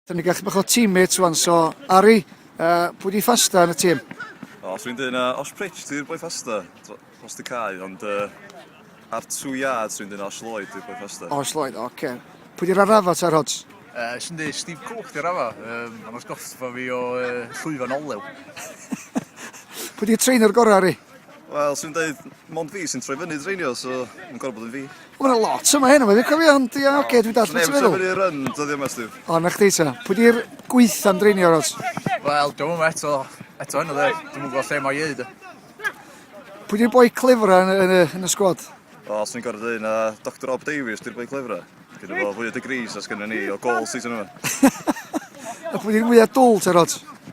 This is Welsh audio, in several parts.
Dyn ni gallu bach o teammates wan, so Ari, uh, pwy di ffasta yn y tîm? O, os dwi'n dweud na, Osh Pritch, dwi'n boi ffasta, dros dy cae, ond uh, ar two yards dwi'n dweud na, Osh Lloyd, dwi'n boi ffasta. Osh Lloyd, oce. Okay. Pwy di'r arrafa ta'r hods? Uh, Swn dweud Steve Cook di'r arrafa, um, ond os goffa fi o uh, llwyfan olew. pwy di'r trainer gorau, Ari? Wel, swn i'n dweud, mond fi sy'n troi fyny dreinio, so yn gorau bod yn fi. O, mae'n lot yma hyn, mae'n cofio, ond ia, oce, okay, dwi'n dall beth ti'n meddwl. Neb yn run, dyddi yma, Steve. O, na chdi ta. Pwy di'r gweitha am dreinio, Ros? Wel, dwi'n mwyn eto, eto hyn o dde, dwi'n mwyn gweld lle mae ieid. Pwy di'r boi clefra yn, yn, yn, y sgwad? O, swn i'n gorau dweud, na Dr Rob Davies, di'r boi clefra. Dwi'n gwybod fwy o degrees as gynnu ni, o gol season yma. A pwy di'r mwyaf dwl, te, Ros?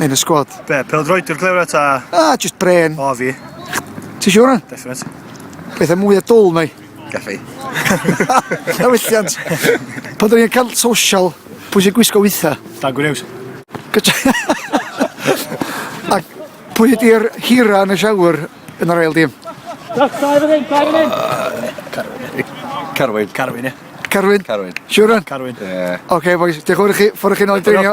Yn y sgwad. Be, peldroediwr glewra ta? A, just bren. O, fi. Ti siwr hwn? Definite. Pethau mwy o dwl na i. Gaffi. Na wylliant. Pan dyn ni'n cael social, pwy sy'n gwisgo weitha? Dan Gwnews. A pwy ydy'r hira yn y siawr yn yr ail dim? Dach, dau fan hyn, dau fan hyn. Carwyn. Carwyn, ie. Carwyn? Carwyn. Siwr hwn? Carwyn. Ie. Oce, boys, diolch yn fawr i chi, ffordd chi'n oed drinio.